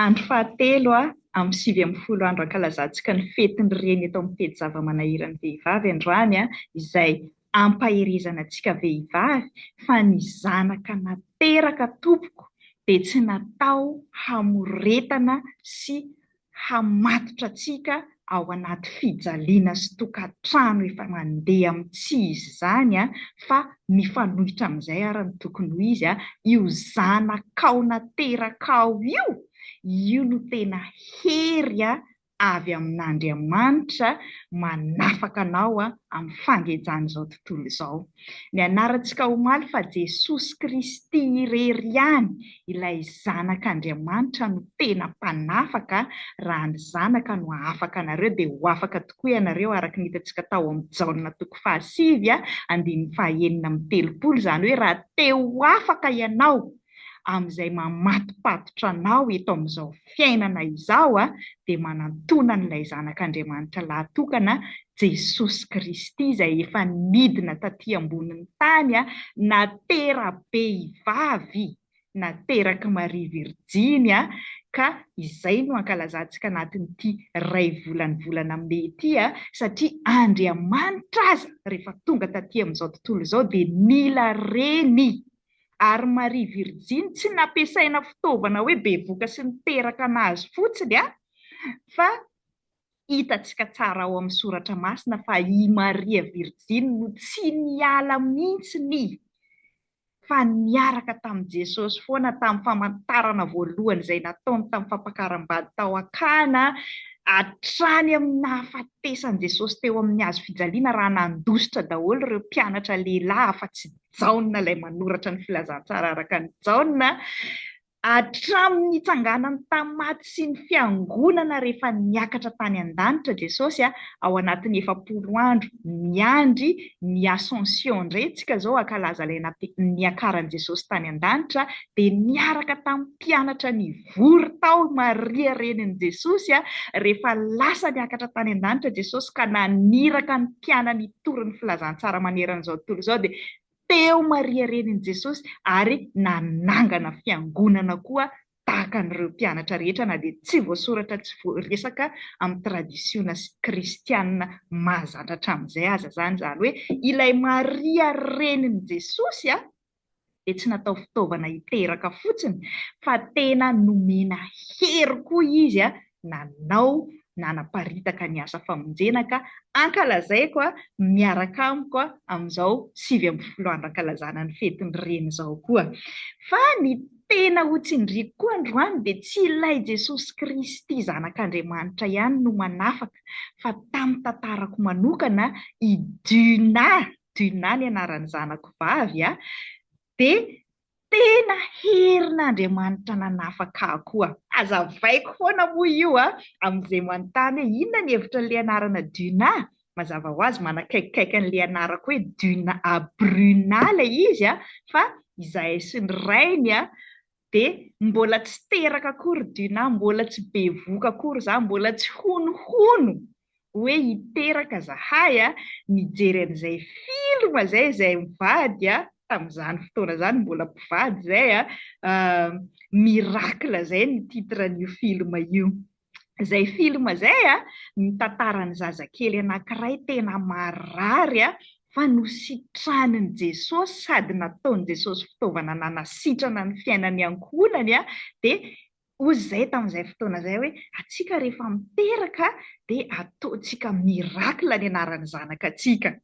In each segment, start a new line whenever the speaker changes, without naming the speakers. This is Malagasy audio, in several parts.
Andro fahatelo amin'ny sivy ambin'ny folo andro ankalazantsika ny fetin'ny Reny eto amin'ny pejy Zava-manahiran'ny vehivavy androany izay ampaherezana antsika vehivavy fa ny zanaka nateraka tompoko dia tsy natao hamoretana sy hamatotra antsika ao anaty fijaliana sy tokantrano efa mandeha amin'ny tsy izy izany, fa mifanohitra amin'izay àry no tokony ho izy, io zanakao naterakao io, io no tena hery avy amin'Andriamanitra manafaka anao amin'ny fangejan'izao tontolo izao. Nianarantsika omaly fa Jesosy Kristy irery ihany ilay Zanak'Andriamanitra no tena mpanafaka, raha ny Zanaka no hahafaka anareo dia ho afaka tokoa ianareo araka ny hitantsika tao amin'ny Jaona toko fahasivy andininy fahaenina amby telopolo, izany hoe raha te ho afaka ianao amin'izay mamatopatotra anao eto amin'izao fiainana izao dia manantona an'ilay Zanak'Andriamanitra lahatokana, Jesosy Kristy izay efa nidina taty ambonin'ny tany na tera-behivavy naterak'i Maria Virjiny ka izay no ankalazantsika anatin'ity iray volany volana Mey ity satria Andriamanitra aza rehefa tonga taty amin'izao tontolo izao dia nila reny ary Maria virjiny tsy nampiasaina fitaovana hoe bevoka sy niteraka an'azy fotsiny an! fa hitantsika tsara ao amin'ny soratra masina fa i Maria virjiny no tsy niala mintsy ny fa niaraka tamin'i Jesosy foana tamin'ny famantarana voalohany izay nataony tamin'ny fampakaram-bady tao Akana hatrany amin'ny nahafatesan'i Jesosy teo amin'ny hazo fijaliana raha nandositra daholo ireo mpianatra lehilahy afa-tsy Jaona ilay manoratra ny filazantsara araka an'i Jaona, hatramin'ny nitsanganany tamin'ny maty sy ny fiangonana rehefa niakatra tany an-danitra Jesosy, ao anatin'ny efapolo andro miandry ny Ascension indray isika izao hankalaza ilay niakaran'i Jesosy tany an-danitra, dia niaraka tamin'ny mpianatra nivory tao i Maria renin'i Jesosy, rehefa lasa niakatra tany an-danitra Jesosy ka naniraka ny mpianany tory ny filazantsara manerana izao tontolo izao dia teo Maria renin'i Jesosy ary nanangana fiangonana koa tahaka an'ireo mpianatra rehetra na dia tsy voasoratra tsy voaresaka amin'ny tradisiona kristiana mahazatra hatramin'izay aza izany izany hoe ilay Maria renin'i Jesosy a dia tsy natao fitaovana hiteraka fotsiny fa tena nomena hery koa izy nanao nanaparitaka ny asa famonjena ka ankalazaiko miaraka amiko amin'izao sivy ambin'ny folo andro ankalazana ny fetin'ny Reny izao koa. Fa ny tena hotsindriako koa androany dia tsy ilay Jesosy Kristy Zanak'Andriamanitra ihany no manafaka fa tamin'ny tantarako manokana i Duna Duna ny anaran'ny zanako vavy a, dia tena herin'Andriamanitra nanafaka ahy koa. Hazavaiko foana moa io a, amin'izay manontany hoe inona ny hevitra an'ilay anarana Duna? Mazava ho azy manakaikikaiky an'ilay anarako hoe Duna a Bruna ilay izy a, fa izahay sy ny rainy a, dia mbola tsy teraka akory Duna, mbola tsy bevoka akory za, mbola tsy honohono hoe hiteraka zahay a, nijery an'izay film zay izay mivady a, tamin'izany fotoana izany mbola mpivady izay a, Miracle izay ny titre an'io film io. izay film izay a, mitantara ny zazakely anankiray tena marary a, fa nositranin'i Jesosy sady nataon'i Jesosy fitaovana nanasitrana ny fiainan'ny ankohonany a, dia hozy izay tamin'izay fotoana izay hoe antsika rehefa miteraka dia ataontsika miracle ny anaran'ny zanakatsika.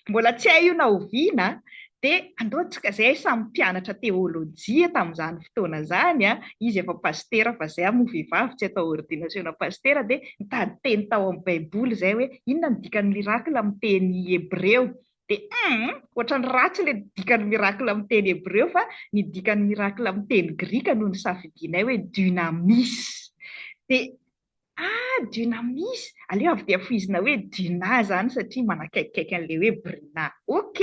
Mbola tsy hay io na oviana an! Dia andao tsika izahay samy mpianatra teolojia tamin'izany fotoana izany an! Izy efa pasitera fa izahay moa vehivavy tsy atao ordinasiona pasitera dia nitady teny tao amin'ny baiboly izahay hoe inona ny dikan'ny miracle amin'ny teny hebreo? Dia hum! Ohatran'ny ratsy ilay dikan'ny miracle amin'ny teny hebreo fa ny dikan'ny miracle amin'ny teny grika no nisafidianay hoe dunamis! Dia Ah Dunamis, aleo avy dia foizina hoe Duna izany satria manakaikikaiky an'ilay hoe Bruna. Ok,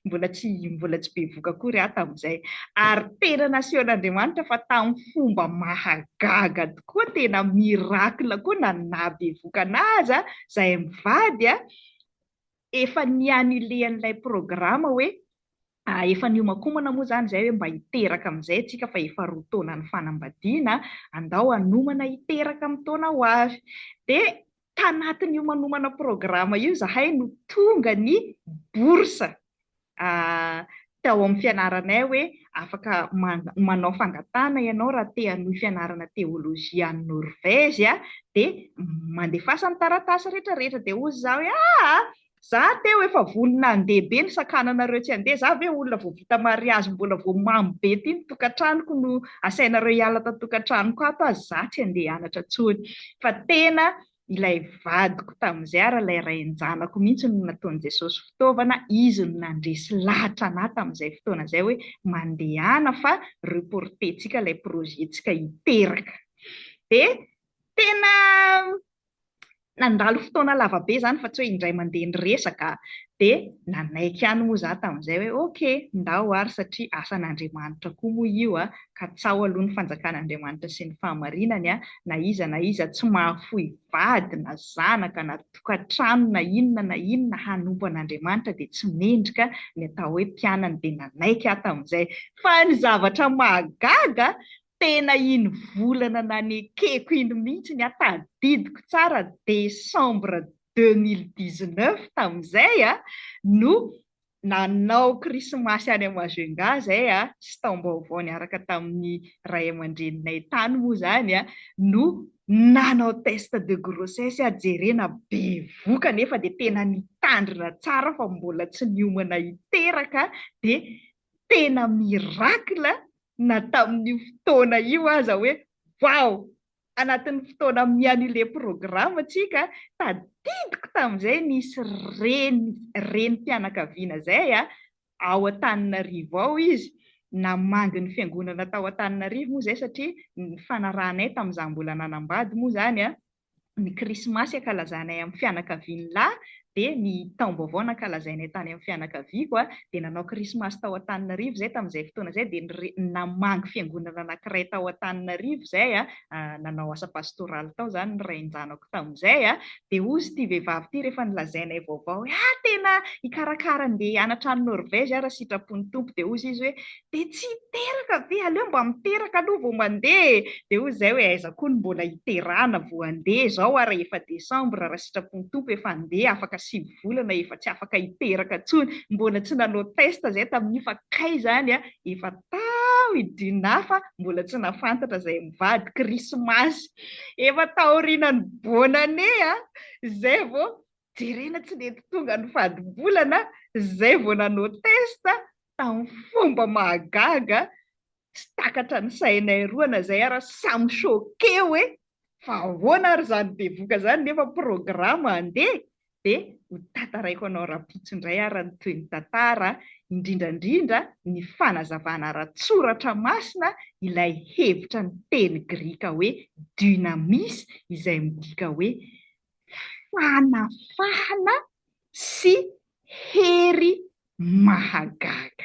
mbola tsy mbola tsy bevoka akory aho tamin'izay. Ary tena nasehon'Andriamanitra fa tamin'ny fomba mahagaga tokoa, tena miracle koa na ny nahabevoka an'ahy aza, izahay mivady, efa ni-annuler an'ilay programme hoe A, efa niomakomana moa izany izay hoe mba hiteraka amin'izay isika fa efa roa taona nifanambadiana, andao hanomana hiteraka amin'ny taona ho avy. Dia tanatin'io manomana programa io izahay no tonga ny bourse a, tao amin'ny fianaranay hoe afaka manao fangatahana ianao raha te hanohy fianarana teolojia any Norvezy a, dia mandefasa ny taratasy rehetra rehetra, dia hoy izaho hoe aa, Za teo efa vonona handeha be ny sakananareo tsy handeha, za ve olona vao vita mariazy mbola vao mamo be ty ny tokantranoko no asainareo hiala tato tokantranoko ato aza za tsy handeha hianatra tsony fa tena ilay vadiko tamin'izay ary ilay rain-janako mihintsy no nataon'i Jesosy fitaovana izy no nandresy lahatra anah tamin'izay fotoana izay hoe mandehana fa reporter-tsika ilay projet-tsika hiteraka dia tena Nandalo fotoana lava be izany fa tsy hoe indray mandeha niresaka dia nanaiky ihany moa izaho tamin'izay hoe ok, ndao ary satria asan'Andriamanitra koa moa io a, ka tsaho aloha ny fanjakan'Andriamanitra sy ny fahamarinany a, na iza na iza tsy mahafoy vady na zanaka na tokantrano na inona na inona hanompo an'Andriamanitra dia tsy mendrika ny atao hoe mpianany dia nanaiky aho tamin'izay fa ny zavatra mahagaga Tena iny volana nanekeko iny mihitsy ny ahy, tadidiko tsara décembre deux mille dix-neuf tamin'izay no nanao krismasy any Majunga izay sy taom-baovao niaraka tamin'ny ray aman-dreninay tany moa izany no nanao test de grossesse aho, jerena bevoka nefa dia tena nitandrina tsara fa mbola tsy niomana hiteraka dia tena miracle na tamin'io fotoana io aza hoe wow! anatin'ny fotoana miannuler programme tsika, tadidiko tamin'izay nisy reny renim-pianakaviana izay a, ao Antananarivo ao izy, namangy ny fiangonana tao Antananarivo moa izay satria ny fanarahanay tamin'izaho mbola nanambady moa izany a, ny Krismasy ankalazanay amin'ny fianakavian'ny lahy dia ny taom-baovao nankalazainay tany amin'ny fianakaviako a, dia nanao Krismasy tao Antananarivo izay tamin'izay fotoana izay dia nire- namangy fiangonana anankiray tao Antananarivo izay a, ah, nanao asa pastoraly tao izany ny rain-janako tamin'izay a, dia hozy ity vehivavy ity rehefa nolazainay vaovao hoe ah tena hikarakara andeha hianatra any Norvège aho raha sitrapon'ny Tompo, dia hozy izy hoe dia tsy hiteraka ve? Aleo mba miteraka aloha vao mandeha e! Dia hoy izahay hoe aiza koa no mbola hiterahana vao handeha izao ary efa desambra raha sitrapon'ny Tompo efa handeha afaka sivy volana efa tsy afaka hiteraka intsony, mbola tsy nanao test izahay tamin'io fa kay izany efa tao i Dina fa mbola tsy nahafantatra izay mivady, krismasy efa taorianan'ny bonne année a! izay vao jerena tsy nety tonga ny fadim-bolana, izay vao nanao test, tamin'ny fomba mahagaga tsy takatra ny sainay roa na izay ary samy choqué hoe fa ahoana ary izany bevoka izany nefa programme handeha dia ho tantaraiko anao rampitso indray ary ny toy ny tantara indrindra indrindra ny fanazavana ara-tsoratra masina ilay hevitra ny teny grika hoe dynamis izay midika hoe fanafahana sy hery mahagaga.